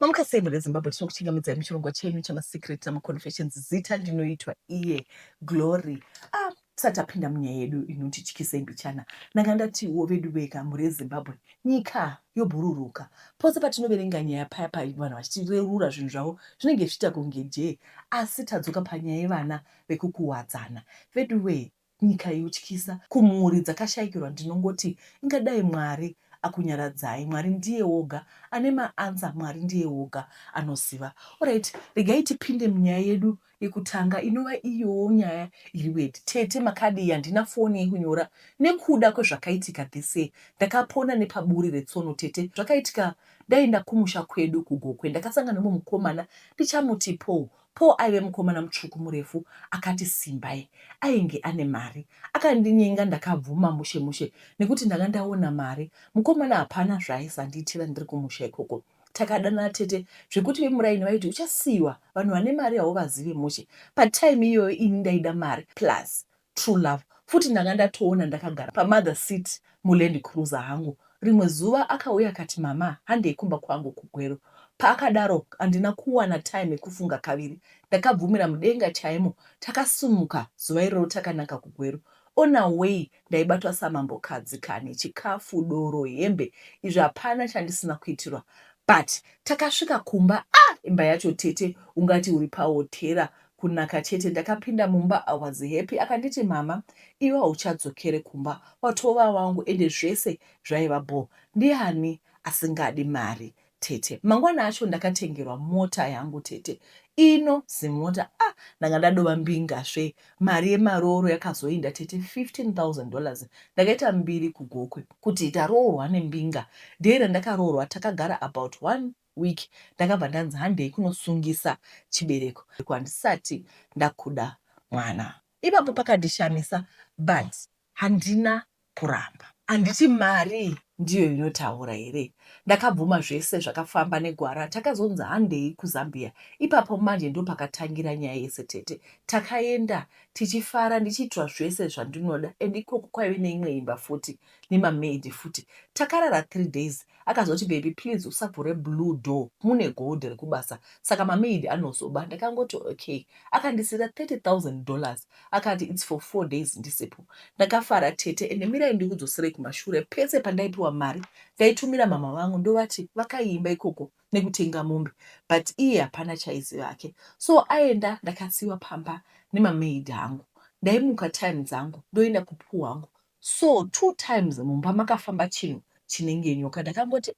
Mamuka sei mhuri yeZimbabwe tinokuchingamidzai muchirongwa chenyu chamaSecret namaConfessions zita ndinoitwa iye Glory ah, tisati tapinda munyaya yedu inotityisei mbichana ndanga ndatiwo vedu veka mhuri yeZimbabwe nyika yobhururuka pose patinoverenga nyaya paya pa vanhu vachitirerura zvinhu zvavo zvinenge zvichiita kunge jee asi tadzoka panyaya yevana vekukuwadzana veduwee Nyika yotyisa, kumhuri dzakashaikirwa ndinongoti inga dai Mwari akunyaradzai Mwari ndiye woga ane ma answer Mwari ndiye woga anoziva Alright regai tipinde munyaya yedu yekutanga inova iyoo nyaya iri weird Tete makadii handina foni yekunyora nekuda kwezvakaitika this year ndakapona nepaburi retsono Tete zvakaitika ndaenda kumusha kwedu ku Gokwe ndakasangana nemumwe mukomana ndichamuti Paul Paul aive mukomana mutsvuku murefu akati Simbai ainge ane mari. Akandinyenga ndakabvuma mushe mushe nekuti ndanga ndaona mari. Mukomana hapana zvaaisandiyitira ndiri kumusha ikoko. Takadanana tete zvekuti vemuraini vaiti uchasiiwa vanhu vane mari hauvazive mushe. Patime iyoyo ini ndaida mari plus True love futi ndanga ndatoona ndakagara pamother seat muLand Cruiser hangu. Rimwe zuva akauya akati mama handei kumba kwangu kuGweru. Paakadaro handina kuwana time yekufunga kaviri ndakabvumira mudenga chaimo takasimuka zuva iroro takananga kuGweru. On our way ndaibatwa samambokadzi kani chikafu, doro, hembe izvi hapana chandisina kuitirwa but takasvika kumba ah imba yacho tete ungati uri pahotera Kunaka chete ndakapinda mumba I was happy akanditi mhamha iwe hauchadzokere kumba watova wangu ende zvese zvaiva bho ndiani asingadi mari tete mangwana acho ndakatengerwa mota yangu tete ino zimota ah ndanga ndadova mbinga svee mari yemarooro yakazoinda tete 15000 dollars ndakaita mbiri kugokwe kuti taroorwa nembinga day randakaroorwa takagara about one week ndakabva ndanzi handei kunosungisa chibereko handisati ndakuda mwana. Ipapo pakandishamisa but handina kuramba. Handiti mari ndiyo inotaura here? Ndakabvuma zvese zvakafamba negwara takazonzi handei kuZambia ipapo manje ndopakatangira nyaya yese tete. Takaenda tichifara ndichiitirwa zvese zvandinoda and ikoko kwaive neimwe imba futi nemamaid futi. Takarara three days Akazoti baby please usavhure blue door mune gold rekubasa saka mamaid anozoba ndakangoti okay. Akandisiira 30,000 dollars akati it's for four days ndisipo. Ndakafara tete ende mirai ndikudzoserei kumashure pese pandaipiwa mari ndaitumira mhamha vangu ndovati vakaiimba ikoko nekutenga mombe but iye hapana chaiziva hake so aenda ndakasiiwa pamba nemamaid hangu. Ndaimuka time dzangu ndoenda kupuu hangu so two times mumba makafamba chinhu chinenge nyoka ndakangoti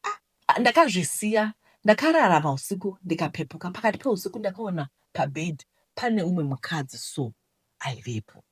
ah ndakazvisiya ndakarara mahusiku ndikapepuka pakati pehusiku ndakaona pabed pane umwe mukadzi so aivepo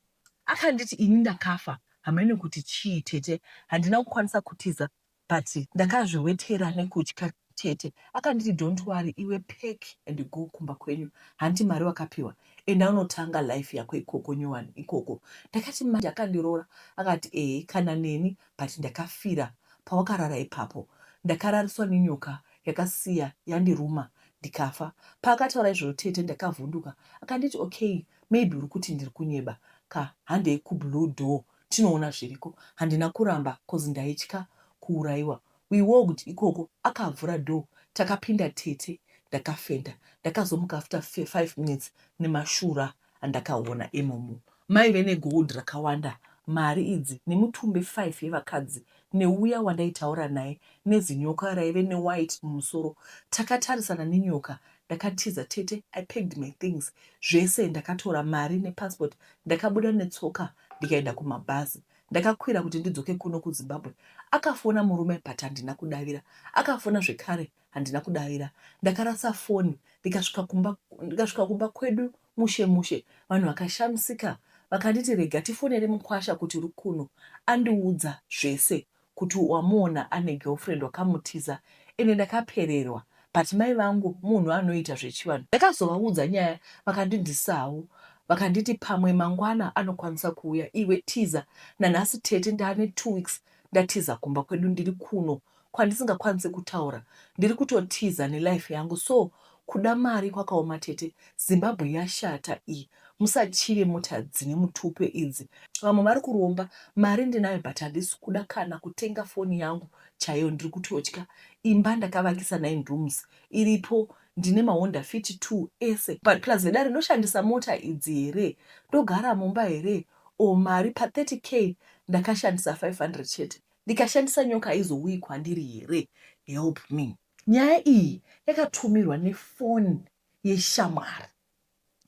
akanditi ini ndakafa hamaine kuti chii tete handina kukwanisa kutiza but ndakazviwetera nekutya tete akanditi don't worry iwe pack and go kumba kwenyu hanti mari wakapiwa enda unotanga life yako ikoko nyowani ikoko ndakati manje akandiroora akati ehe kana neni but ndakafira pawakarara ipapo ndakarariswa nenyoka yakasiya yandiruma ndikafa paakataura izvozvo tete ndakavhunduka akanditi okay maybe uri kuti ndiri kunyeba ka handei kublue door tinoona zviriko handina kuramba coz ndaitya kuuraiwa we walked ikoko akavhura door takapinda tete ndakafenda ndakazomuka after five minutes nemashura andakaona imomo maive negold rakawanda mari idzi nemutumbi five yevakadzi neuya wandaitaura naye nezinyoka raive newhite mumusoro takatarisana nenyoka ndakatiza tete i packed my things zvese ndakatora mari nepassport ndakabuda netsoka ndikaenda kumabhazi ndakakwira kuti ndidzoke kuno kuzimbabwe akafona murume but handina kudavira akafona zvekare handina kudavira ndakarasa foni ndikasvika kumba ndikasvika kumba kwedu mushe mushe vanhu vakashamisika vakanditi rega tifonere mukwasha kuti uri kuno andiudza zvese kuti wamuona ane girlfriend wakamutiza ende ndakapererwa but mai vangu munhu anoita zvechivanhu ndakazovaudza nyaya vakandindisawo vakanditi pamwe mangwana anokwanisa kuuya iwe tiza nanhasi tete ndane two weeks ndatiza kumba kwedu ndiri kuno kwandisingakwanise kutaura ndiri kutotiza nelife yangu so Kuda mari kwakaoma tete. Zimbabwe yashata iyi. Musatyire mota dzine mutupo idzi. Vamwe vari kuromba. Mari ndinayo but handisi kuda kana kutenga foni yangu chaiyo ndiri kutotya. Imba ndakavakisa nine rooms iripo ndine maHonda fit two ese but plus vedare ndoshandisa mota idzi here? Ndogara mumba here? Or mari pa 30 k ndakashandisa 500 chete. Ndikashandisa nyoka haizouyi kwandiri here? Help me. Nyaya iyi yakatumirwa nefoni yeshamwari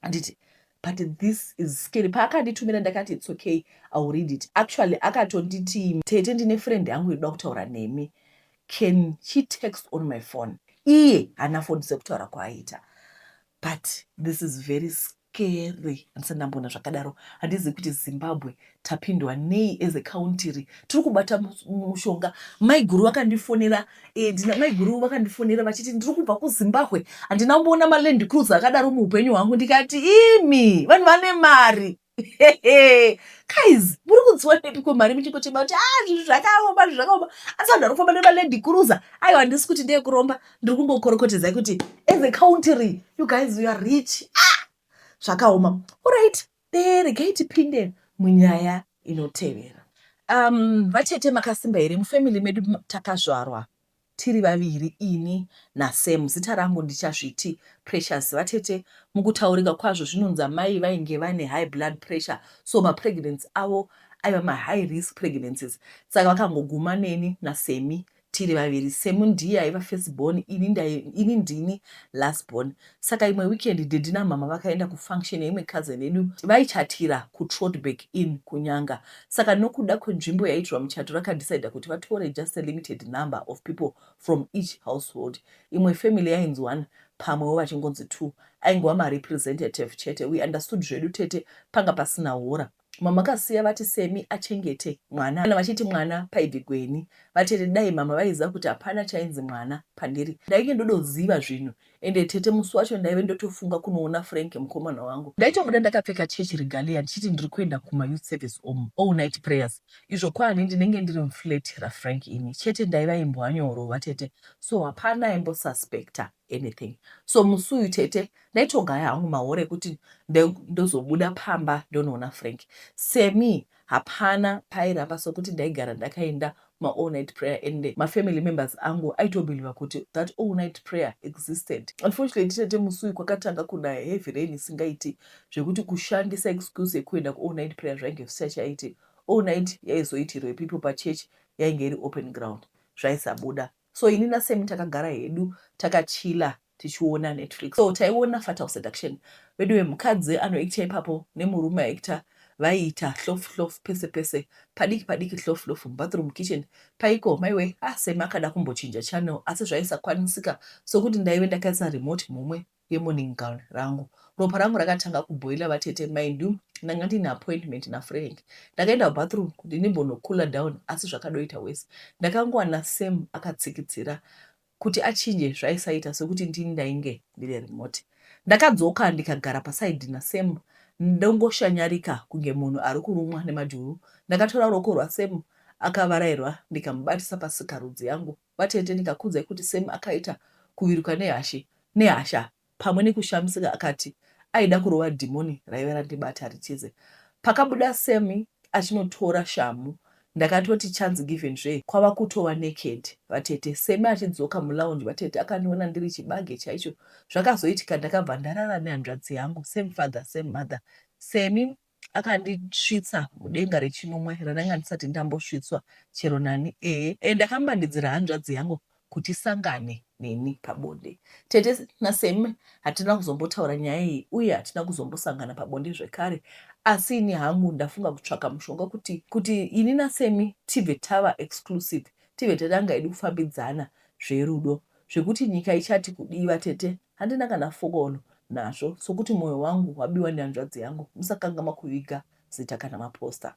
handiti but this is scary paakanditumira ndakati its okay iwill read it actually akatonditi tete ndine friend yangu inoda kutaura nemi can she text on my phone iye haana foni sekutaura kwaaita but this is very scary. Kere handisati ndamboona zvakadaro. Handizivi kuti Zimbabwe tapindwa nei as a country. Tiri kubata mushonga. Maiguru vakandifonera eh, ndina maiguru vakandifonera vachiti ndiri kubva kuZimbabwe. Handina kumboona maLand Cruiser akadaro muupenyu hwangu ndikati imi vanhu vane mari. guys muri kudziwa nepi kwemari muchingochema kuti a ah, zvinhu zvakaoma zvinhu zvakaoma asi vanhu vari kufamba nemalady cruiser aiwa handisi kuti ndeyekuromba ndiri kumbokorokotedzai kuti as a country you guys you are rich ah! zvakaoma orit beregai tipinde munyaya inotevera um, vatete makasimba here mufamily medu takazvarwa tiri vaviri ini nasam zita rangu ndichazviti precious vatete mukutaurika kwazvo zvinonzi amai vainge vane high blood pressure so mapregnancy avo aiva mahigh risk pregnancies saka vakangoguma neni nasemi tiri vaviri Semu ndiye aiva first born ini ndai ini ndini last born saka imwe weekend daddy namhamha vakaenda kufunction yeimwe cousin yedu vaichatira kuTrotberg in kuNyanga saka nokuda kwenzvimbo yaiitirwa muchato rakadecida kuti vatore just a limited number of people from each household imwe family yainzi one pamwewo vachingonzi two aingova marepresentative chete we understood zvedu tete panga pasina hora Mamakasiya vati Semi achengete mwana kana vachiti mwana paibve Gweni. Vatete dai mama vaiziva kuti hapana chainzi mwana pandiri ndainge ndodoziva zvinhu ende tete musi wacho ndaive ndotofunga kunoona Frank mukomana wangu. Ndaitobuda ndakapfeka church regalia ndichiti ndiri kuenda kuma youth service om all night prayers izvo kwaani ndinenge ndiri muflat raFrank ini chete ndaiva imbwa nyoro vatete so hapana aimbosuspecter. anything so musi uyu tete ndaitogaya hangu mahora ekuti ndozobuda pamba ndonoona Frank semi hapana pairamba sokuti ndaigara ndakaenda maall night prayer and mafamily members angu aitobeliva kuti that all night prayer existed unfortunately tete musi uyu kwakatanga kuna heavy rain isingaiti zvekuti kushandisa excuse yekuenda kuall night prayer zvainge zvisachaiti all night yaizoitirwa ipipo pachurch yainge iri open ground zvaisabuda So ini na Sammy takagara hedu taka chiller tichiona Netflix. So taiona Fatal Seduction. Veduwe mukadzi ano actor ipapo ne murume a actor vaiita hlof hlof pese pese. Padiki padiki hlof hlof mu bathroom kitchen paiko maiwe ah Sammy akada kumbochinja channel asi zvaisakwanisika sokuti ndaive ndakaisa remote mhomwe. yeMorning gown rangu. Ropa rangu rakatanga kuboiler vatete mindyou ndanga ndiine appointment naFrank. Ndakaenda kubathroom kuti ndimbono cooler down asi zvakadoita worse. Ndakangowana Sam akatsikidzira kuti achinje zvaisaita sekuti ndini ndainge ndine remote. Ndakadzoka ndikagara paside naSam ndongoshanyarika kunge munhu ari kurumwa nemajuru. Ndakatora ruoko rwaSam akavarairwa ndikamubatisa pasikarudzi yangu. Vatete ndikakuudzai kuti Sam akaita kuviruka nehashe nehasha pamwe nekushamisika akati aida kurova dhimoni raive randibata ritize. Pakabuda Sam achinotora shamhu ndakatoti chance given zvee kwava kutova naked vatete. Sam achidzoka mulounge vatete akandiona ndiri chibage chaicho zvakazoitika ndakabva ndarara nehanzvadzi yangu same father same mother Sam akandisvitsa mudenga rechinomwe randanga ndisati ndambosvitswa chero nani ehe and ndakambandidzira hanzvadzi yangu kuti isangane neni pabonde tete naseme hatina kuzombotaura nyaya iyi uye hatina kuzombosangana pabonde zvekare asi ini hangu ndafunga kutsvaka mushonga kuti kuti ini nasemi tibve tava exclusive tive tatanga edu kufambidzana zverudo Zvekuti nyika ichati kudii vatete handina kana fokono nazvo sokuti moyo wangu wabiwa nehanzvadzi yangu musakangamwa kuviga zita kana maposter.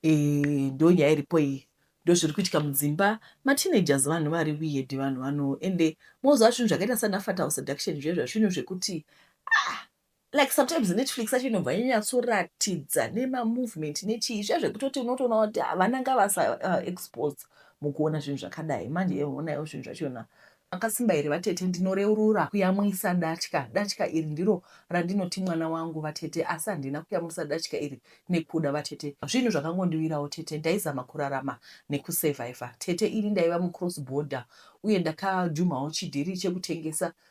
Eeh ndonyaya iripo iyi ndozviri kuitika mudzimba mateenagers vanhu vari weird vanhu vano ende moziva zvinhu zvakaita sana fatal seduction zviye zvazvinhu zvekuti ah like sometimes netflix yacho inobva yanyatsoratidza nemamovement nechii zviya zvekutoti unotoona kuti havana nga vasa uh, expose mukuona zvinhu zvakadai manje eonayo zvinhu zvachona akasimba here vatete ndinoreurura kuyamwisa datya datya iri ndiro randinoti mwana wangu vatete asi handina kuyamwisa datya iri nekuda vatete zvinhu zvakangondiwirawo tete ndaizama kurarama nekusurvivha tete ini ndaiva mucross border uye ndakajumhawo chidhiri chekutengesa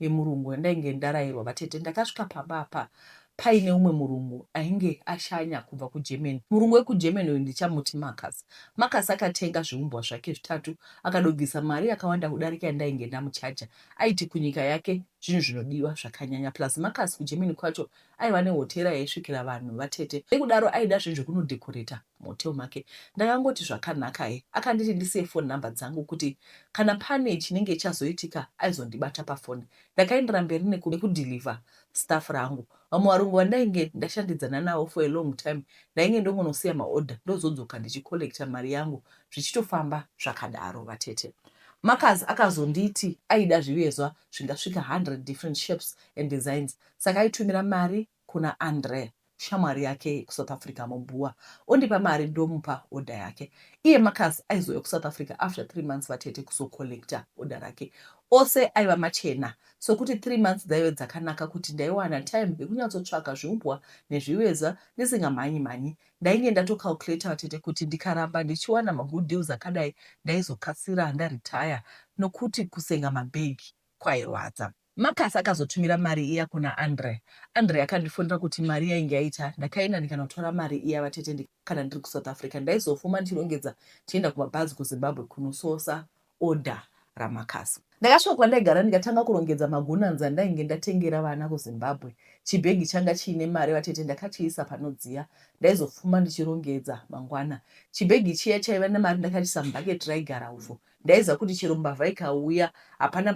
yemurungu yandainge ndarairwa vatete ndakasvika pamba apa paine umwe murungu ainge ashanya kubva kuGermany. Murungu wekuGermany uyu ndichamuti Marcus. Marcus akatenga zviumbwa zvake zvitatu akadobvisa mari yakawanda kudarika yandainge ndamuchaja. Aiti kunyika yake zvinhu zvinodiwa zvakanyanya plus Marcus kuGermany kwacho aiva nehotera yaisvikira vanhu vatete nekudaro aida zve zvekunodecoreta muhotel make ndakangoti zvakanakai akanditi ndisiye phone number dzangu kuti kana pane chinenge chazoitika aizondibata pafoni ndakaendera mberi nekudeliver staff rangu vamwe varungu vandainge ndashandidzana navo for a long time ndainge ndongonosiya maorder ndozodzoka ndichicollecta mari yangu zvichitofamba zvakadaro vatete Marcus akazonditi aida zvivezwa zvingasvika 100 different shapes and designs Saka aitumira mari kuna Andre shamwari yake kuSouth Africa mobhuwa ondipa mari ndomupa order yake. Iye Marcus aizouya kuSouth Africa after three months vatete kuzocollecta order rake. Ose aiva machena sokuti three months dzaive dzakanaka kuti ndaiwana time yekunyatsotshaka zviumbwa nezvivezva ndisingamhanyi mhanyi. Ndainge ndatocalculator vatete kuti ndikaramba ndichiwana magood deals akadai ndaizokasira ndaretire nokuti kusenga mabag kwairwadza. Marcus akazotumira mari iya kuna Andre. Andre akandifonera kuti mari yainge yaita. Ndakaenda ndikanotora mari iya vatete ndi kana ndiri kuSouth Africa ndaizofuma ndichirongedza tichienda kumabhazi kuZimbabwe kunososa order raMarcus. Ndakasvika kwandaigara ndikatanga kurongedza magunanzi andainge ndatengera vana kuZimbabwe. Chibhegi changa chiine mari vatete ndakachiisa panodziya. Ndaizofuma ndichirongedza mangwana. Chibhegi chiya chaiva nemari ndakachiisa mubucket raigara uvhu. Ndaiziva kuti chero mbavha ikauya hapana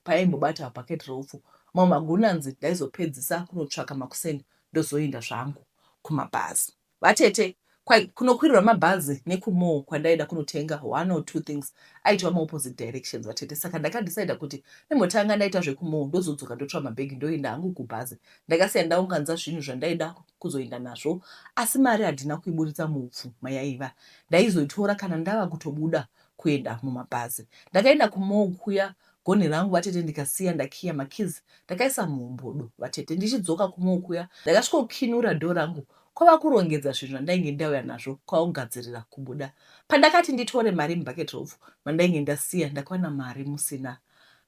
paimbobata habhaketi reupfu. Mamwe magona anzi ndaizopedzisa kunotsvaka makuseni ndozoenda zvangu kumabhazi. Vatete kwai kunokwirirwa mabhazi nekumall kwandaida kunotenga one or two things aitova maopposite directions vatete saka ndakadecider kuti ndimbotanga ndaita zvekumall ndozodzoka ndotora mabhegi ndoenda hangu kubhazi ndakasiya ndaunganza zvinhu zvandaida kuzoenda nazvo asi mari handina kuiburitsa muupfu mayaiva ndaizoitora kana ndava kutobuda kuenda mumabhazi. Ndakaenda kumorgue kuya gonhi rangu vatete ndikasiya ndakiya makeys ndakaisa muhombodo vatete. Ndichidzoka kumorgue kuya ndakasvikokinura door rangu kwava kurongedza zvinhu zvandainge ndauya nazvo kwava kugadzirira kubuda. Pandakati nditore mari mubucket rofu mandainge ndasiya ndakawana mari musina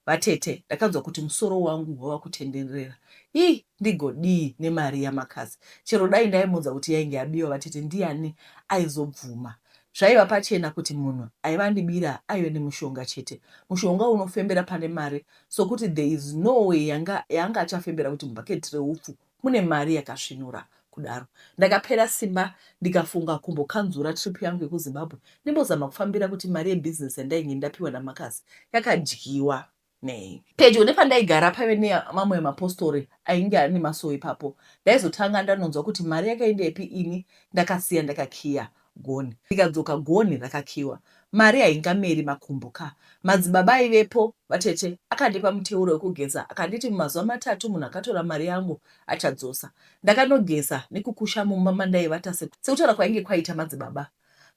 Vatete ndakanzwa kuti musoro wangu wava kutenderera ii ndigodii nemari yaMakazi chero dai ndaimuudza kuti yainge yabiwa vatete ndiyani aizobvuma zvaiva pachena kuti munhu aiva andibira aive nemushonga chete mushonga unofembera pane mari sokuti there is no way yanga yaanga achafembera kuti bucket reupfu mune mari yakasvinura kudaro. Ndakapera simba ndikafunga kumbokanzura trip yangu yekuZimbabwe ndimbozama kufambira kuti mari yebusiness yandainge ndapiwa naMarcus yakadyiwa nei. Pedyo nepandaigara paive nemamwe mapostori ainge ari nemasowe ipapo ndaizotanga ndanonzwa kuti mari yakaendepi ini ndakasiya ndakakiya gonhi ndikadzoka gonhi rakakiiwa mari haingameri makumbo ka madzibaba aivepo vatete akandipa muteuro wekugeza akanditi mumazuva matatu munhu akatora mari yangu achadzosa ndakanogeza nekukusha mumba mandaivata sekutaura kwainge kwaita madzibaba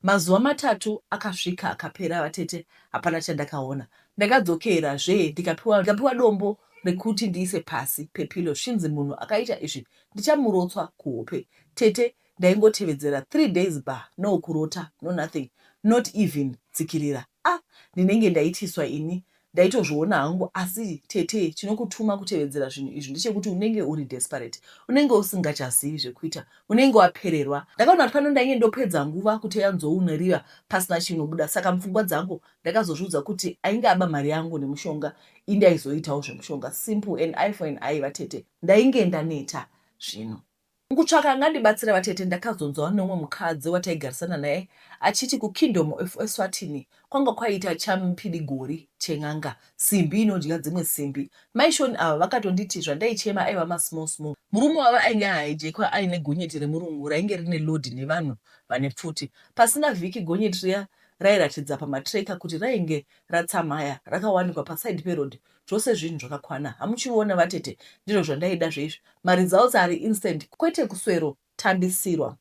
mazuva matatu akasvika akapera vatete hapana chandakaona ndakadzokera zve ndikapiwa ndikapiwa dombo rekuti ndiise pasi pepilo svinzi munhu akaita izvi ndichamurotswa kuhope tete ndaingotevedzera three days ba no kurota no nothing not even tsikirira ah ndinenge ndaitiswa ini ndaitozviona hangu asi tete chinokutuma kutevedzera zvinhu izvi ndechekuti unenge uri desperate unenge usingachazivi zvekuita unenge wapererwa ndakaona kuti pano ndainge ndopedza nguva kuteya nzou neriva pasina chinobuda saka mupfungwa dzangu ndakazozviudza kuti ainge aba mari yangu nemushonga indaizoitawo zvemushonga simple and i for an i vatete ndainge ndaneta zvino Mukutsvaka angandibatsira vatete ndakazonzwa neumwe mukadzi wataigarisana naye achiti kukingdom of Eswatini kwanga kwaiita champidi gori chen'anga, simbi inodya dzimwe simbi. Mai Sean ava vakatonditi zvandaichema aiva masmall small. Murume wavo ainge ahijekwa aine gonyeti remurungu rainge rine load nevanhu vane pfuti. Pasina vhiki gonyeti riya rairatidza pamatracker kuti rainge ratsamhaya rakawanikwa paside peroad zvose zvinhu zvakakwana hamuchiona vatete ndizvo zvandaida zveizvi maresults ari instant kwete kuswero tambisirwa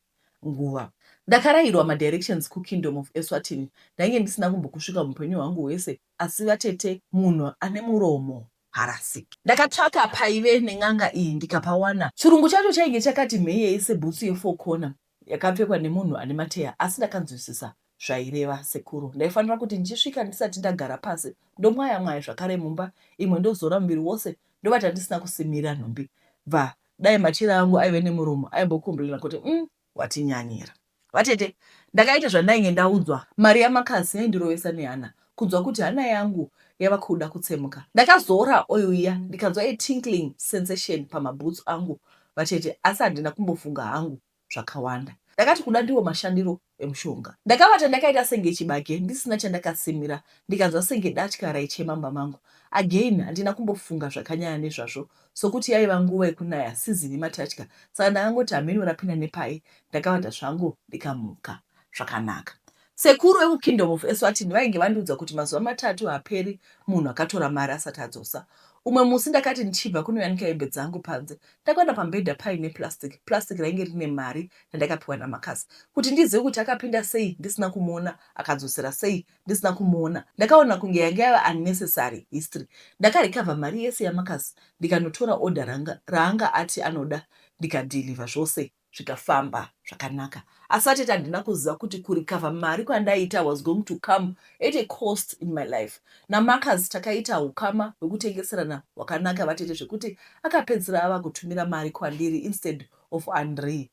nguva ndakarairwa madirections kukingdom of eswatini ndainge ndisina kumbokusvika mupenyu hwangu hwese asi vatete munhu ane muromo harasiki ndakatsvaka paive nen'anga iyi ndikapawana chirungu chacho chainge chakati mheyei sebhutsu yefokona Yakapfekwa nemunhu ane mateya asi ndakanzwisisa zvaireva sekuru. Ndaifanira kuti ndichisvika ndisati ndagara pasi ndomwaya mwaya zvakare mumba imwe ndozora muviri wose ndovata ndisina kusimira nhumbi bva dai machira angu aive nemuromo aimbokomburina kuti umm watinyanyira. Vatete ndakaita zvandainge ndaudzwa mari yamakasi yaindirovesa nehana kunzwa kuti hana yangu yava kuda kutsemuka. Ndakazoora oil iya ndikanzwa a tinkling sensation pamabhutsu angu vatete asi handina kumbofunga hangu zvakawanda. Ndakati kuda ndiwo mashandiro emushonga. Ndakavata ndakaita senge chibage ndisina chandakasimira ndikanzwa senge datya raichema mumba mangu. Again handina kumbofunga zvakanyanya nezvazvo sokuti yaiva nguva yekunaya season yematatya saka ndakangoti hameno rapinda nepai ndakavata zvangu ndikamuka zvakanaka. Sekuru veku Kingdom of Eswatini vainge vandiudza kuti mazuva matatu haperi munhu akatora mari asati adzosa. Umwe musi ndakati ndichibva kunoyanika hembe dzangu panze ndakaona pamubhedha paine plastic. Plastic rainge rine mari yandakapiwa naMarcus. Kuti ndizive kuti akapinda sei ndisina kumuona akadzosera sei ndisina kumuona ndakaona kunge yange yava unnecessary history. Ndaka recover mari yese yaMarcus ndikanotora order ranga raanga ati anoda ndika deliver zvose. zvikafamba zvakanaka asi atete handina kuziva kuti kurecover mari kwandaiita was going to come at a cost in my life namarcus takaita hukama hwekutengeserana hwakanaka vatete zvekuti akapedzisira ava kutumira mari kwandiri instead of andree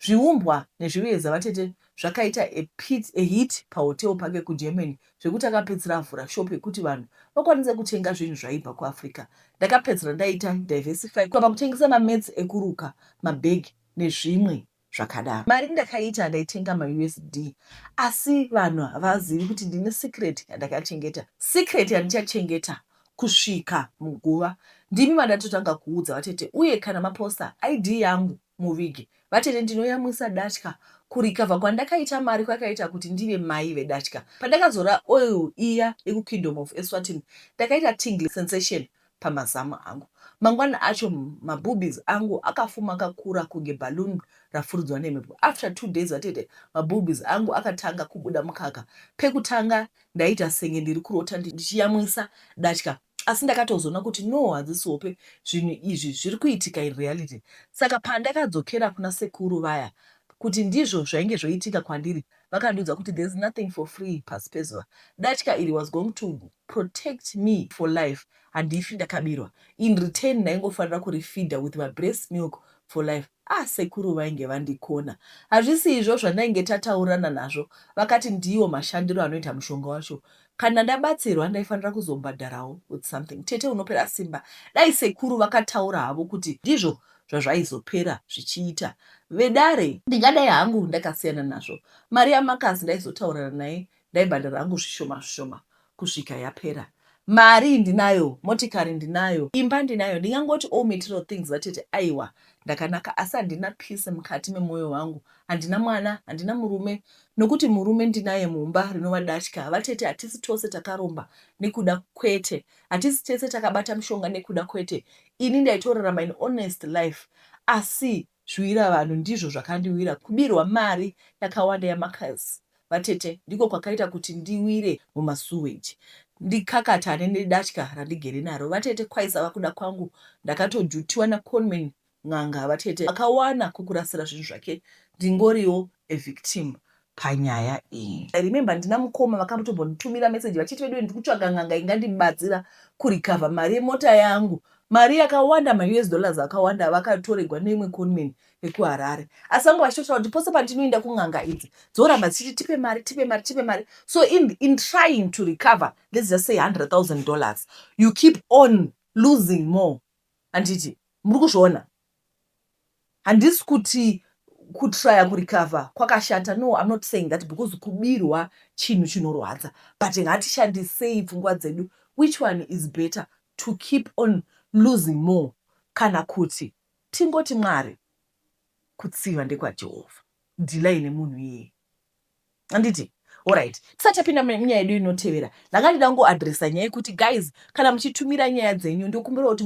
zviumbwa nezviveza vatete zvakaita a, pit, a hit pahotel pake kugermany zvekuti akapedzisira avhura shop yekuti vanhu vakwanise kutenga zvinhu zvaibva kuafrica ndakapedzisira ndaita diversify kwava kutengesa mamats ekuruka mabag nezvimwe zvakadaro mari ndakaita ndaitenga mausd asi vanhu havazivi kuti ndine secret yandakachengeta secret yandichachengeta kusvika muguva ndimi vandatotanga kuudza vatete uye kana maposta id yangu muvige. Vatete ndinoyamwisa datya kurecover kwandakaita mari kwakaita kuti ndive mai vedatya. Pandakazora oil iya yekukingdom of Eswatini ndakaita tingly sensation pamazamu angu. Mangwana acho maboobies angu akafuma akakura kunge balloon rafuridzwa nemhepo. After two days vatete maboobies angu akatanga kubuda mukaka. Pekutanga ndaiita senge ndiri kurota ndichiyamwisa datya. asi ndakatozoona kuti no hadzisi hope zvinhu izvi zviri kuitika in reality saka pandakadzokera kuna sekuru vaya kuti ndizvo zvainge zvoitika kwandiri vakandiudza kuti there's nothing for free pasi pezuva datya iri was going to protect me for life handifi ndakabirwa in return ndaingofanira kurifeeder with mabreast milk for life ah sekuru vainge vandikona hazvisi izvo zvandainge tataurirana nazvo vakati ndiwo mashandiro anoita mushonga wacho Kana ndabatsirwa ndaifanira kuzobhadharawo with something. Tete unopera simba. Dai sekuru vakataura havo kuti ndizvo zvazvaizopera zvichiita. Vedare. Ndingadai hangu ndakasiyana nazvo. Mari yaMarcus ndaizotaurana naye ndaibhadhara hangu zvishoma zvishoma kusvika yapera. Mari ndinayo, motikari ndinayo, imba ndinayo ndingangoti all material things zvatete aiwa ndakanaka asi handina peace mukati memoyo wangu. Handina mwana, handina murume nokuti murume ndinaye mumba rinova datya havatete hatisi tose takaromba nekuda kwete hatisi tese takabata mushonga nekuda kwete ini ndaitorarama in honest life asi zviwira vanhu ndizvo zvakandiwira kubirwa mari yakawanda yamakas vatete ndiko kwakaita kuti ndiwire mumasuweji ndikakatane nedatya randigere naro vatete kwaisava kuda kwangu ndakatojutiwa naconman N'anga vatete vakawana kwekurasira zvinhu zvake ndingoriwo a victim panyaya iyi. I remember ndina mukoma vakatombonditumira message vachiti veduwe ndiri kutsvaga n'anga ingandibatsira kurecover mari yemota yangu. Mari yakawanda maUS dollars akawanda avakatoregwa neimwe conman yekuHarare. Asi vanga vachitotaura kuti pose pandinoenda kun'anga idzi dzoramba dzichiti tipe mari tipe mari tipe mari. So in, in trying to recover let's just say 100,000 dollars you keep on losing more. Handiti muri kuzviona? Handisi kuti kutraya kurecover kwakashata no I'm not saying that because kubirwa chinhu chinorwadza but ngatishandisei pfungwa dzedu which one is better to keep on losing more kana kuti tingoti Mwari kutsiva ndekwaJehovha. Dhilai nemunhu iyeye. anditi orit tisati tapinda munyaya yedu inotevera ndanga ndida kungoadresa nyaya yekuti guys kana muchitumira nyaya dzenyu ndokumbira kuti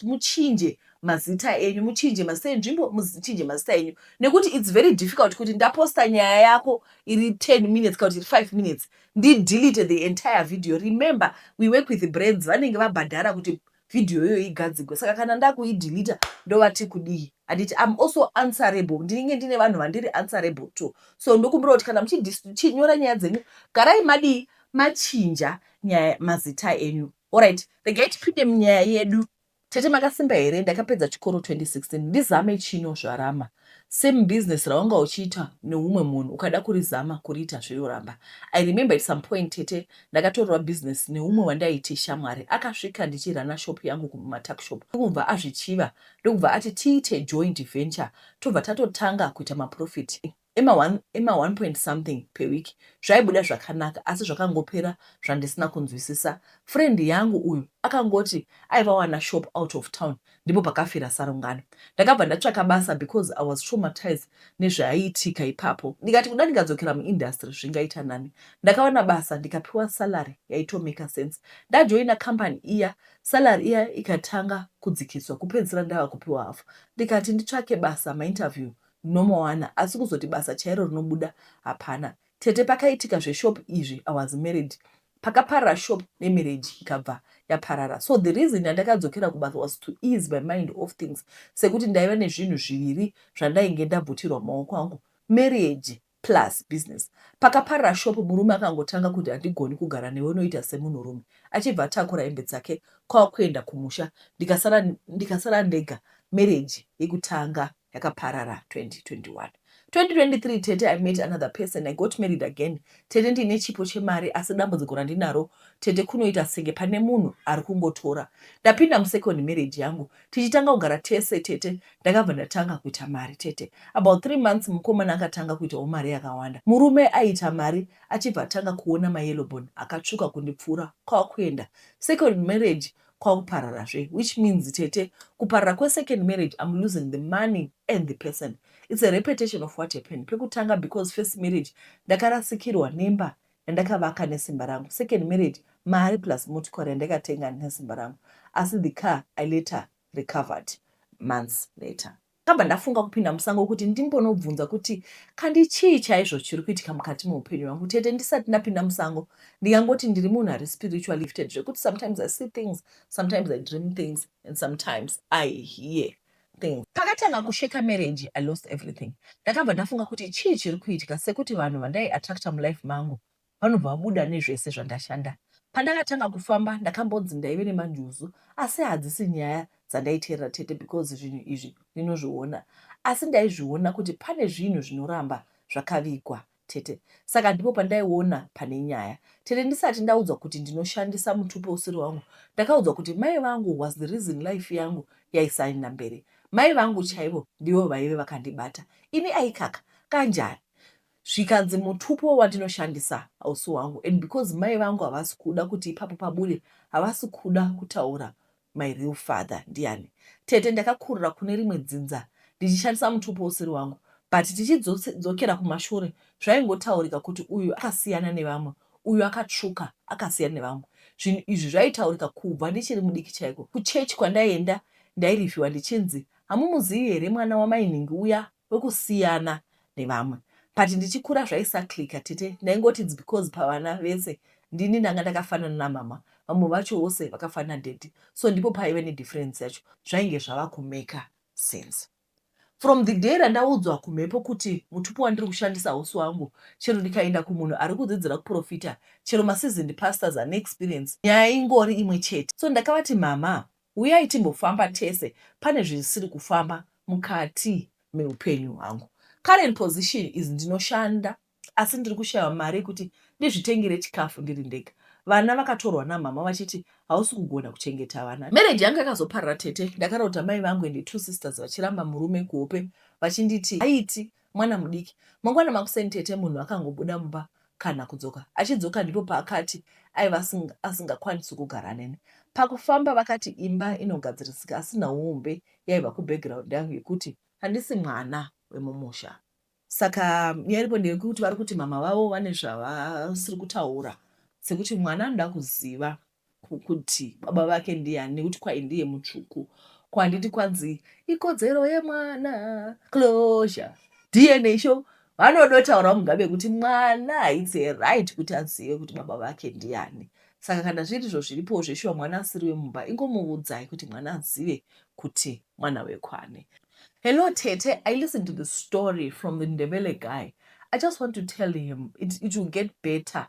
muchinje mazita enyu muchinje mazita enzvimbo muchinje mazita enyu nekuti its very difficult kuti ndaposta nyaya yako iri 10 minutes kana kuti iri 5 minutes ndidelete the entire video remember we work with brands vanenge vabhadhara kuti video iyoyo igadzigwe saka kana ndakuideleter ndovati kudii handiti im also answerable ndinenge ndine vanhu vandiri answerable to so ndokumbira kuti kana muchinyora nyaya dzenyu garai madii machinja nyaya mazita enyu orit regai tipinde munyaya yedu tete makasimba here ndakapedza chikoro 2016 ndizame chino zvarama Same business rawanga uchiita neumwe munhu ukada kurizama kuriita zve yoramba. I remember at some point tete ndakatorerwa business neumwe wandaiti shamwari akasvika ndichirunner shop yangu kumatuckshop ndokubva azvichiva ndokubva ati tiite joint venture tobva tatotanga kuita maprofit ema one, ema one point something per week zvaibuda zvakanaka asi zvakangopera zvandisina kunzwisisa. Friend yangu uyu akangoti aivawana shop out of town ndipo pakafira sarungano. Ndakabva ndatsvaka basa because I was traumatized nezvaiitika ipapo. Ndikati kuda ndikadzokera muindustry zvingaita nani. Ndakawana basa ndikapiwa salary yaitomaker sense. Ndajoina company iya salary iya ikatanga kudzikiswa kupedzisira ndava kupiwa hafu. Ndikati nditsvake basa mainterview ndinomawana asi kuzoti basa chairo rinobuda hapana. Tete pakaitika zveshop izvi I was married pakaparara shop nemarriage ikabva yaparara so the reason yandakadzokera kubasa was to ease my mind of things sekuti ndaiva nezvinhu zviviri zvandainge ndabvutirwa mumaoko angu marriage plus business pakaparara shop murume akangotanga kuti handigoni kugara newe unoita semunhurume achibva atakura hembe dzake kwava kuenda kumusha ndikasara ndikasara ndega marriage yekutanga yakaparara 2021 2023 tete i met another person i got married again tete ndiine chipo chemari asi dambudziko randinaro tete kunoita senge pane munhu ari kungotora ndapinda musecond marriage yangu tichitanga kugara tese tete ndakabva ndatanga kuita mari tete about three months mukomana akatanga kuitawo mari yakawanda murume aiita mari achibva atanga kuona mayellow bone akatsvuka kundipfuura kwakuenda second marriage kwakuparara zve which means tete kuparara kwe second marriage I'm losing the money and the person it's a repetition of what happened pekutanga because first marriage ndakarasikirwa nemba yandakavaka nesimba rangu second marriage mari plus motikari yandakatenga nesimba rangu asi the car I later recovered months later ndakabva ndafunga kupinda musango kuti ndimbonobvunza kuti kandi chii chaizvo chiri kuitika mukati meupenyu hwangu tete ndisati ndapinda musango ndingangoti ndiri munhu ari spiritual lifted zvekuti sometimes i see things sometimes i dream things and sometimes i hear things pakatanga kusheka marriage i lost everything ndakabva ndafunga kuti chii chiri kuitika sekuti vanhu vandai attracta mulife mangu vanobva vabuda nezvese zvandashanda. Pandakatanga kufamba ndakambonzi ndaive nemanjuzu asi hadzisi nyaya dzandaiteerera tete because zvinhu izvi ndinozviona asi ndaizviona kuti pane zvinhu zvinoramba zvakavigwa tete saka ndipo pandaiona pane nyaya tete ndisati ndaudzwa kuti ndinoshandisa mutupo usiri wangu ndakaudzwa kuti mai vangu was the reason life yangu yaisaenda mberi mai vangu chaivo ndivo vaive vakandibata ini aikaka kanjani zvikanzi mutupo wandinoshandisa hausi wangu and because mai vangu havasi kuda kuti ipapo pabude havasi kuda kutaura my real father ndiani tete ndakakurira kune rimwe dzinza ndichishandisa mutupo usiri wangu but tichidzokera kumashure zvaingotaurika kuti uyu akasiyana nevamwe uyu akatsvuka akasiyana nevamwe zvinhu izvi zvaitaurika kubva ndichiri mudiki chaiko kuchechi kwandaienda ndairivhiwa ndichinzi hamumuzivi here mwana wamainhingi uya wekusiyana nevamwe but ndichikura zvaisaclicker tete ndaingoti its because pavana vese ndini ndanga ndakafanana namama vamwe vacho vose vakafanana daddy so ndipo paive nedifference yacho zvainge zvava kumaker sense from the day randaudzwa kumhepo kuti mutupo wandiri kushandisa hausi wangu chero ndikaenda kumunhu ari kudzidzira kuprofita chero maseasoned pastors ane experience nyaya ingori imwe chete so ndakavati mama Huyai timbofamba tese pane zvisiri kufamba mukati meupenyu hwangu. Current position is ndinoshanda asi ndiri kushaya mari yekuti ndizvitengere chikafu ndiri ndega. Vana vakatorwa namhamha vachiti hausi kugona kuchengeta vana. Marriage yangu yakazoparara tete. Ndakarota mai vangu and two sisters vachiramba murume kuhope vachinditi haiti mwana mudiki. Mangwana makuseni tete munhu akangobuda mumba kana kudzoka. Achidzoka ndipo paakati aiva asingakwanisi kugara neni. Pakufamba vakati imba inogadzirisika asi nhauumbe yaiva kubackground yangu yekuti handisi mwana wemumusha. Saka nyaya iripo ndeyekuti vari kuti mama vavo vane zvavasiri kutaura sekuti mwana anoda kuziva kuti baba vake ndiyani nekuti kwai ndiye mutsvuku ko handiti kwanzi ikodzero yemwana closure dna sho vanodotaura mugabe kuti mwana haitse right kuti azive kuti baba vake ndiyani saka kana zviri izvo zviripowo zveshuwa mwana asiri wemumba ingomuvudzai kuti mwana azive kuti mwana wekwani hello tete i listen to the story from the ndebele guy i just want to tell him it, it will get better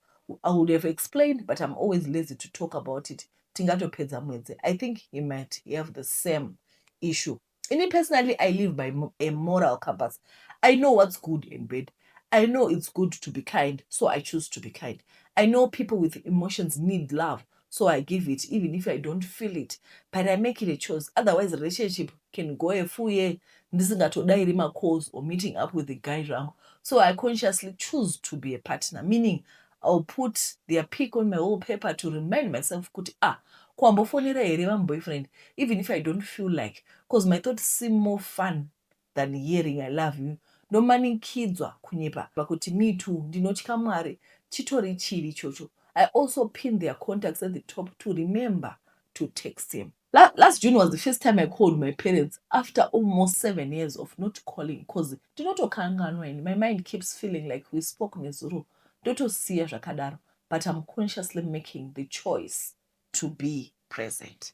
I would have explained but I'm always lazy to talk about it tingatopedza mwedzi I think he might have the same issue ini personally I live by a moral compass I know what's good and bad I know it's good to be kind so I choose to be kind I know people with emotions need love so i give it even if i don't feel it but i make it a choice otherwise relationship can go a full year ndisingatodairi macalls or meeting up with the guy zvangu so i consciously choose to be a partner meaning ill put their pick on my whole paper to remind myself kuti ah kwambofonera here vamboyfriend even if i don't feel like bcause my thought seem more fun than hearing I love you ndomanikidzwa kunyepa pakuti me too ndinotya Mwari chitori chivi ichocho I also pin their contacts at the top to remember to text him. La last June was the first time I called my parents after almost seven years of not calling because ndinotokanganwa ini my mind keeps feeling like we spoke nezuro ndotosiya zvakadaro but I'm consciously making the choice to be present.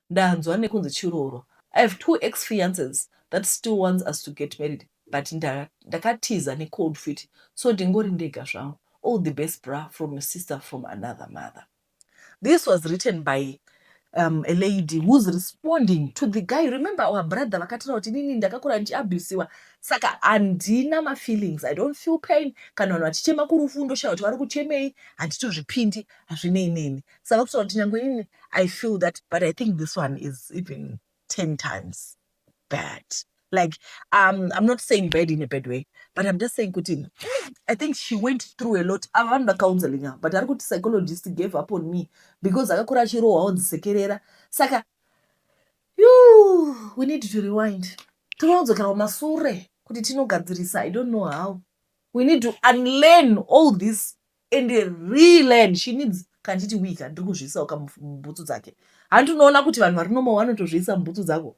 ndanzwa nekunzi chiroro I have two ex fiances that still wants us to get married but nda ndakatiza ne cold feet so ndingori ndega zvangu all the best bra from your sister from another mother this was written by um, a lady who's responding to the guy remember our brother vakataura kuti inini ndakakura ndichiabusiwa saka handina mafeelings i don't feel pain kana vanhu vachichema kurufu ndoshaya kuti vari kuchemei handitozvipindi hazvinei neni saka kutaura kuti nyange inini i feel that but i think this one is even ten times bad like um, i'm not saying bad in a bad way but i'm just saying kuti i think she went through a lot ava vanhu vacounseling ava but ari kuti psychologist gave up on me because akakura achirohwa onzisekerera saka you we need to rewind tinodzokera kumasure kuti tinogadzirisa i don't know how we need to unlearn all this and reland she needs kanditi wika ndiri kuzviisawo kamubhutsu dzake hanti unoona kuti vanhu vari nomo vanotozviisa mubhutsu dzako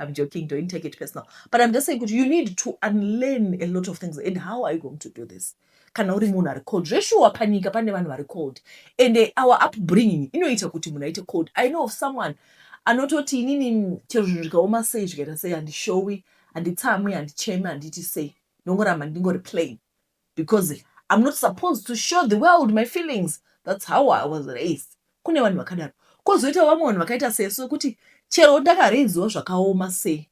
i'm joking don't take it personal but i'm just saying kuti you need to unlearn a lot of things and how are you going to do this kana uri munhu ari cold zveshuwa panyika pane vanhu vari cold and eh, our upbringing inoita kuti munhu aite cold i know of someone anototi inini chero zvinhu zvikaoma sei zvikaita sei handishowi handitsamwi handichemi handiti sei ndongoramba ndingori plain because I'm not supposed to show the world my feelings that's how I was raised kune vanhu vakadaro kozoita vamwe vanhu vakaita sesu vekuti chero ndakareiziwa zvakaoma sei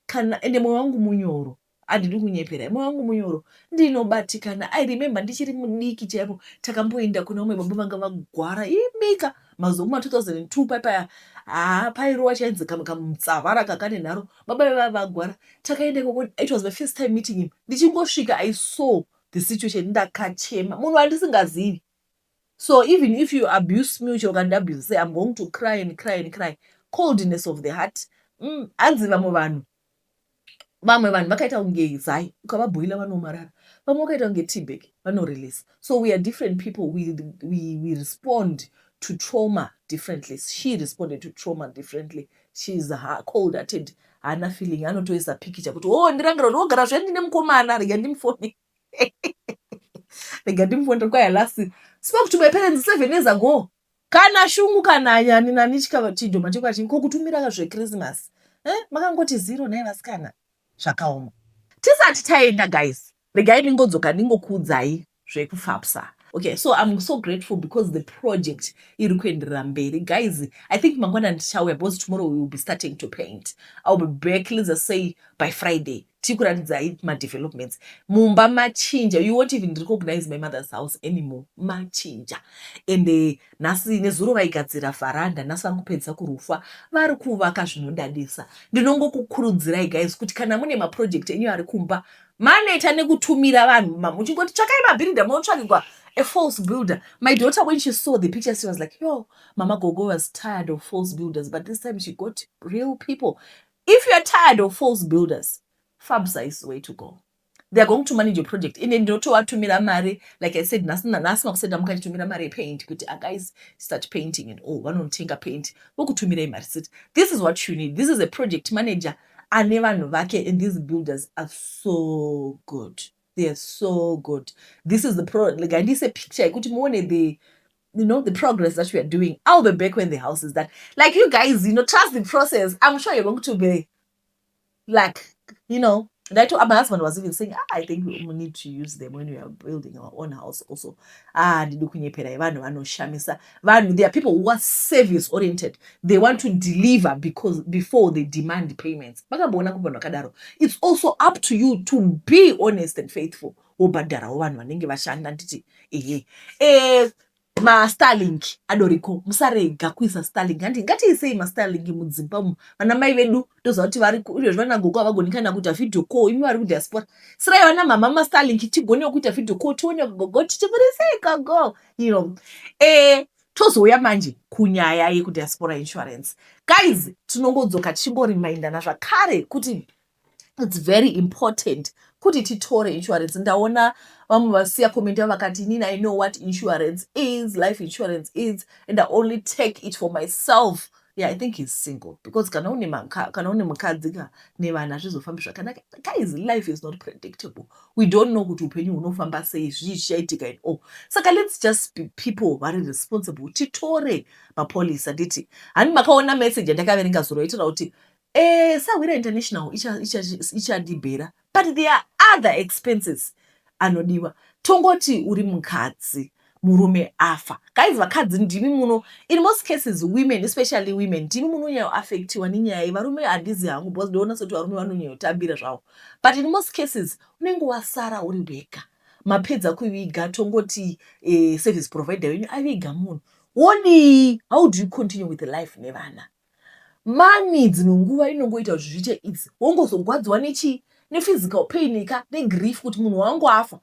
kana ende moyo wangu munyoro handidi kunyepera moyo wangu munyoro ndinobatikana i remember ndichiri mudiki chaipo takamboenda kuna umwe baba vanga vagwara imika mazuva kuma 2002 paipaya haa pairova chainzi kamwe kamutsavara kakanenharo Baba vaive vava vagwara takaenda ikoko it was my first time meeting him ndichingosvika I saw the situation ndakachema munhu wandisingazivi so even if you abuse me uchero ukandiabuse say I'm going to cry and cry and cry coldness of the heart mm, hanzi mm, vamwe vanhu vamwe vanhu vakaita kunge zai ukavabhoila vanomarara vamwe vakaita kunge tbag vanorelease so we are different people we, we, we respond to trauma differently she responded to trauma differently she is cold hearted haana feeling anotoisa pikicha kuti o oh, ndirangira kuti ogara zve ndine mukomana rega ndimufone rega ndimufone tiri kwaya last spoke to my parents seven years ago kana shungu kana anyani nani chidhoma chekwa chingi ko kutumira zvekrisimasi eh, makangoti zero naye vasikana zvakaoma tisati taenda guys Regai ndingodzoka ndingokuudzai zvekuFAPSA. Okay, so I'm so grateful because the project iri kuenderera mberi. Guys, I think mangwana ndichauya because tomorrow we will be starting to paint. I'll be back, let's just say by Friday. Tiri kuratidzai madevelopments. Mumba machinja. You won't even recognize my mother's house anymore. Machinja. And uh, nhasi nezuro vaigadzira varanda, nhasi vari kupedzisa kurufa. Vari kuvaka zvinodadisa. Ndinongokukurudzirai guys kuti kana mune maproject enyu ari kumba maneta nekutumira vanhu ma muchingoti tsvakai mabuilder motsvakigwa a false builder my daughter when she saw the picture she was like yo mama gogo was tired of false builders but this time she got real people if youare tired of false builders fabsa is the way to go theyare going to manage your project ine ndinotovatumira mari like i said nhasi nanhasi makusenda mukanditumira mari yepaint kuti aguys ah, start painting and all vanonotenga paint vokutumirai mari siti this is what you need this is a project manager oh, ane vanhu vake and these builders are so good they are so good this is the pro like andiise picture yekuti muone the you know the progress that we are doing i'll be back when the house is done like you guys you know trust the process i'm sure you're going to be like you know that my husband was even saying ah, i think we need to use them when we are building our own house also haa handidi kunyeperai vanhu vanoshamisa vanhu there are people who are service oriented they want to deliver because before they demand payments makamboona ku vanhu vakadaro it's also up to you to be honest and faithful wobhadharawo vanhu vanenge vashanda nditi ehe eh, mastarlink adoriko musarega kuisa starlink handi ngatiisei mastarlink mudzimba umu vana mai vedu toziva kuti vari izvezvi vana gogo havagoni kana kuita video call imi vari kudiaspora siraiva namama mastarlink tigonewo kuita video call tione gogo tichiburisei gogo you know eh, tozouya manje kunyaya yekudiaspora insurance guys tinongodzoka tichingorimaindana zvakare kuti its very important kuti titore insurance ndaona vamwe vasiya comment yavo vakati inini i know what insurance is life insurance is and i only take it for myself yeah, i think he's single because kana une kana une mukadzi ka nevana hazvizofambi zvakanaka guys life is not predictable we don't know kuti upenyu hunofamba sei zvii zvichaitika in all saka let's just be people vari responsible titore mapolisa nditi hani makaona message yandakaverenga zuro yaitaura kuti Eh, Sahwira International ichadibhera but there are other expenses anodiwa. Tongoti uri mukadzi murume afa. Guys, vakadzi ndimi muno in most cases women especially women ndimi munonyayo affectiwa nenyaya iyi. Varume handizi hangu because ndoona soti varume vanonyayo tambira zvavo. But in most cases unenge wasara uri wega. Mapedza kuviga tongoti eh, service provider wenyu aviga munhu. Wodii? How do you continue with life nevana? Mani dzimwe nguva inongoita kuti zviite easy wongozogwadziwa nechii nephysical pain ka negrief kuti munhu wangu afa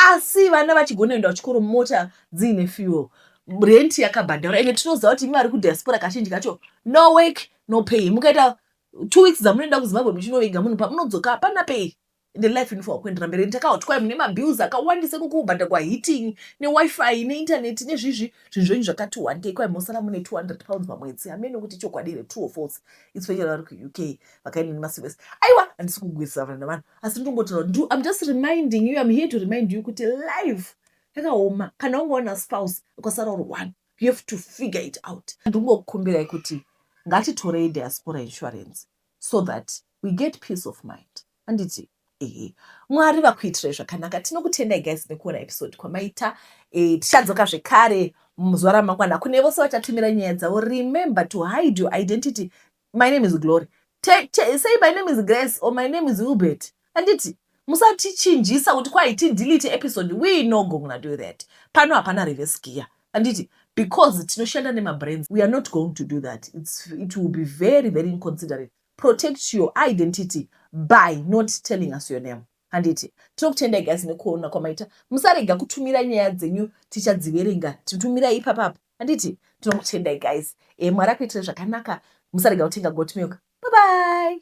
asi vana vachigona kuenda kuchikoro mota dziine fuel rent yakabhadharwa ende tinoziva kuti imi vari kudiaspora kazhinji kacho no work no pay mukaita two weeks dzamunoenda kuzimbabwe muchinoviga munhu pamunodzoka hapana pay ende life inofanira kuendera mberi ndakauti kwai mune mabills akawandisa iko kubhadhagwa heating newifi neintaneti nezvizvi zvinhu zvenyu zvakati wandei kwai mosara mune 200 pounds pamwedzi hameno kuti chokwadi here true or false especially vari kuuk vakainini maservice aiwa handisi kugwirisana navanhu asi ndongotaura kuti im just reminding you im here to remind you kuti life yakaoma kana wanga wana spouse ukasara uri one you have to figure it out ndingokukumbirai kuti ngatitorei diaspora insurance so that we get peace of mind handiti ehe mwari vakuitirai zvakanaka tinokutendai guys nekuona episode kwamaita eh, tichadzoka zvekare muzuva ramangwana kune vose vachatumira nyaya dzavo remember to hide your identity my name is glory Te, te, say my name is grace or my name is ubert handiti musatichinjisa kuti kwai tidelete episode we no gonna do that pano hapana reverse gear handiti because tinoshanda nemabrands we are not going to do that It's, it will be very very inconsiderate protect your identity by not telling us your name handiti tinokutendai guys nekuona kwamaita musarega kutumira nyaya dzenyu tichadziverenga titumirai ipapapa handiti tinokutendai guys e mwari akuitira zvakanaka musarega kutenga goat milk bye bye